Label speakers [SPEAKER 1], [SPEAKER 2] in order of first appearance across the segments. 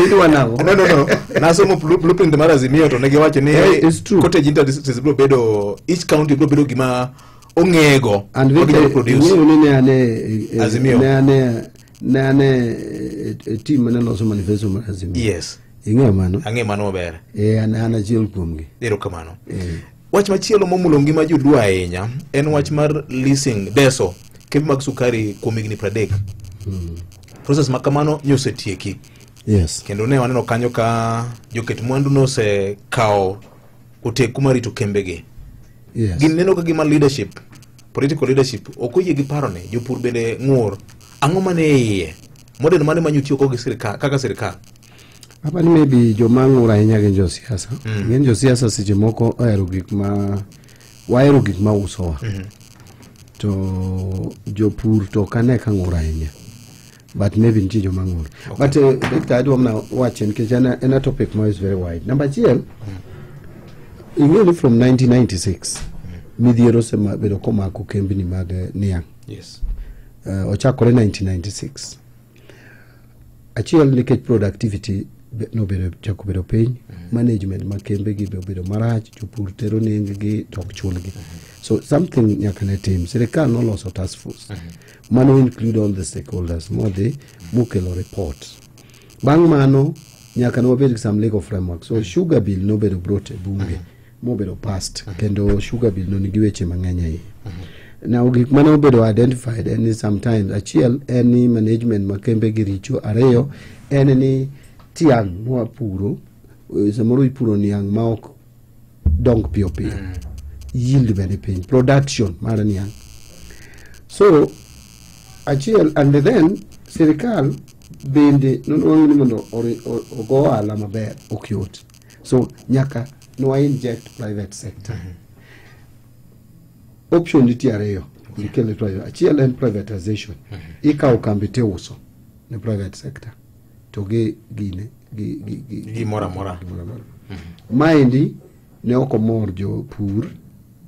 [SPEAKER 1] Idwa nang'o? no no no nasomo blu- blueprint mar azimio to ne giwacho ni Eh, it's true. cottage industries biro bedo each county biro bedo gima ong'ego And ma ginyalo Victor,
[SPEAKER 2] produce ing'eyo ni ne ane eh, eh, Azimio. ne ane ne ane eh, eh, team mane loso manifesto mar Azimio. yes Ing'eyo
[SPEAKER 1] mano? ang'e
[SPEAKER 2] mano maber Eh,
[SPEAKER 1] an an achiel
[SPEAKER 2] kuomgi. erokamano
[SPEAKER 1] Eh. Wach machielo momulo ngima joluo ahinya en wach mar leasing deso kembe mag sukari kuom higni pradek. Hmm. Proses ma kamano nyo osetieki. Yes. Kendo
[SPEAKER 2] ne waneno kanyo
[SPEAKER 1] ka joket mwandu nosekawo oteku mar rito kembegi. Yes. Gin
[SPEAKER 2] neno ka gima
[SPEAKER 1] leadership, political leadership, ok oyie gi paro ni jopur bende ng'ur. Ang'o mane iye? Model mane manyo tiyo gi sirkal kaka sirkal? Apa
[SPEAKER 2] ni maybe joma ng'ur ahinya gin josiasa. Mm. Gin josiasa seche moko ohero gik ma wahero gik ma usowa. Mm -hmm. To jopur to ok ane ka ng'ur ahinya. But maybe nitie joma ng'ur. Okay. But uh, Dr. Adwa mna wache nikech en en a topic ma is very wide. Namba achiel, mm. ing'eyo ni from 1996 mm. midhiero osebedo komako kembni mag eh, niang'. Yes.
[SPEAKER 1] Uh, ochakore
[SPEAKER 2] 1996. achiel nikech productivity nobedo chako bedo piny mm-hmm. management ma kembe gi be obedo marach jopur tero nengegi to ok chulgi mm-hmm. so something nyaka ne tim sirikal noloso task force mm-hmm. mano include all the stakeholders modhi mokelo report bang' mano nyaka ne wabed gi some legal framework so sugar bill nobedo brought e bunge mobedo past uh-huh. kendo sugar bill no nigi weche mang'eny ahinya uh-huh. now gik mane obedo identified en ni sometimes achiel en ni management ma kembe gi richo ariyo en ni tiang' mwapuro eh, samoro ipuro niang' ma ok dong piyo piyo mm. yield bende piny production mar niang' so achiel and then sirikal bende nonwang'o ni mondo ogo ohala maber ok yot so nyaka nwa inject private sector option nitie ariyo nikele twayo achiel en privatization ikawo kambi tiuso ne private sector to gi gine gi- gi- gi- Gimoro
[SPEAKER 1] amora. gimoro amora. maendi
[SPEAKER 2] ne ok omor jopur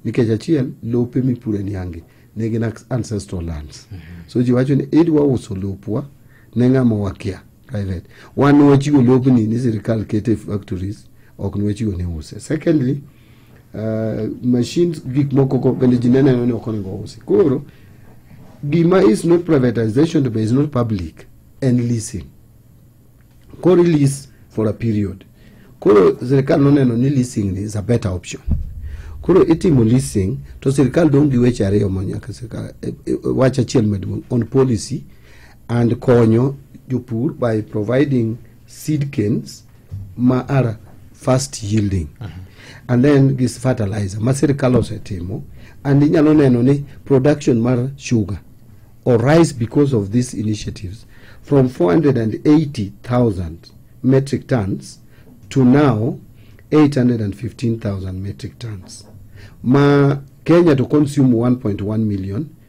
[SPEAKER 2] nikech achiel lope mipure niangi ne gin ancestral lands so ji wacho ni idwa uso lopwa ne ng'ama wakia private wan wachiwo lobni ni sirikal kete factories ok ne wachiwo ne use secondly uh, machines gik moko go bende ji neneno ni ok onego usi koro gima is not privatization to be is not public and leasing koro lease for a period koro sirikal noneno ni leasing is a better option koro itimo leasing to sirikal dong' gi weche ariyo ma nyaka sirikal eh, eh, wach achiel maduong' on policy and konyo jopur by providing seed canes ma are fast yielding uh -huh. and then gis fertilizer ma sirkal osetimo and inyalo neno ni production mar sugar or rise because of these initiatives from 480,000 metric tons to now 815,000 metric tons ma Kenya to consume 1.1 million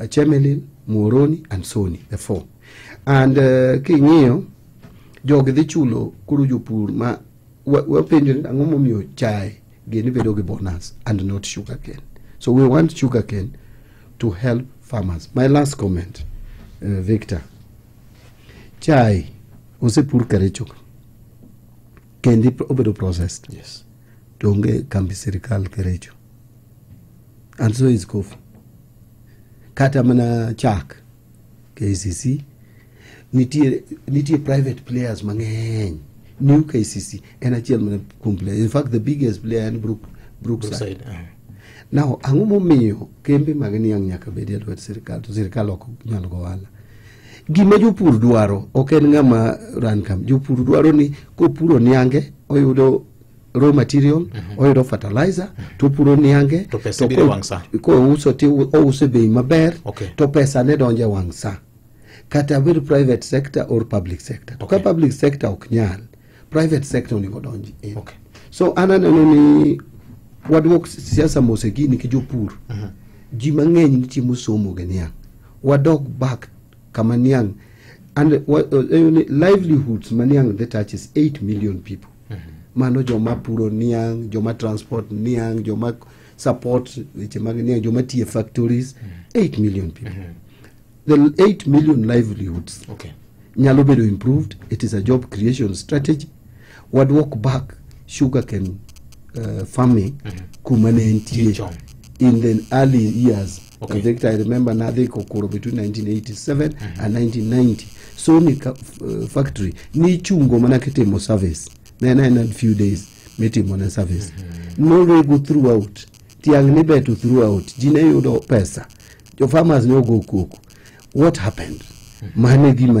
[SPEAKER 2] uh, Chemelil, Muoroni and Soni, the four. And uh, king'iyo jogi dhi chulo koro jopur ma wapenjo ni ang'o momiyo chae gini bedo gi bonus and not sugar cane. So we want sugar cane to help farmers. My last comment, uh, Victor. Chai osepur Kericho kendi obedo processed. Yes. To
[SPEAKER 1] onge kambi
[SPEAKER 2] sirikal Kericho. andiso izikofu kata mana chak kcc nitie, nitie private players mang'eny new kcc en achiel mana kuom player in fact the biggest player en Brook, brookside Brookside, ah. now ang'o momiyo kembe mag niang' nyaka bedi e lwet sirikal to sirikal ok nyal go wala gima jopur dwaro ok en ng'ama ran kam jopur dwaro ni kopuro niange oyudo raw material mm -hmm. oyudo fertilizer mm -hmm. topuro niange to pesa biro wang' saa
[SPEAKER 1] kouso ti
[SPEAKER 2] ouso e bei maber okay. to pesa ne donje wang' saa kata bed private sector or public sector okay. to ka public sector ok nyal private sector onego donji e. okay. so an aneno ni waduok siasa mose gini ki jopur uh mhm. -huh. ji mang'eny nitie mosomo gi niang' wadok back kama niang' and uh, uh, livelihoods ma niang' the touches 8 million people mano joma puro niang' joma transport niang' joma support weche mag niang' joma tiye factories 8 million people the 8 million livelihoods Okay. nyalo bedo improved it is a job creation strategy wadwok back sugar can uh, farming kuma ne entie Chon. in the early years Okay. In fact, I remember Nadhi Kokoro between 1987 mm -hmm. and 1990. So ni ka, uh, factory ni chungo mana kitimo service. Then I had few days mitimo na service. Mm -hmm. No rego throughout. Tiang ni betu throughout. Jine yudo pesa. Your farmers no go cook. What happened? Mm -hmm. Mane gima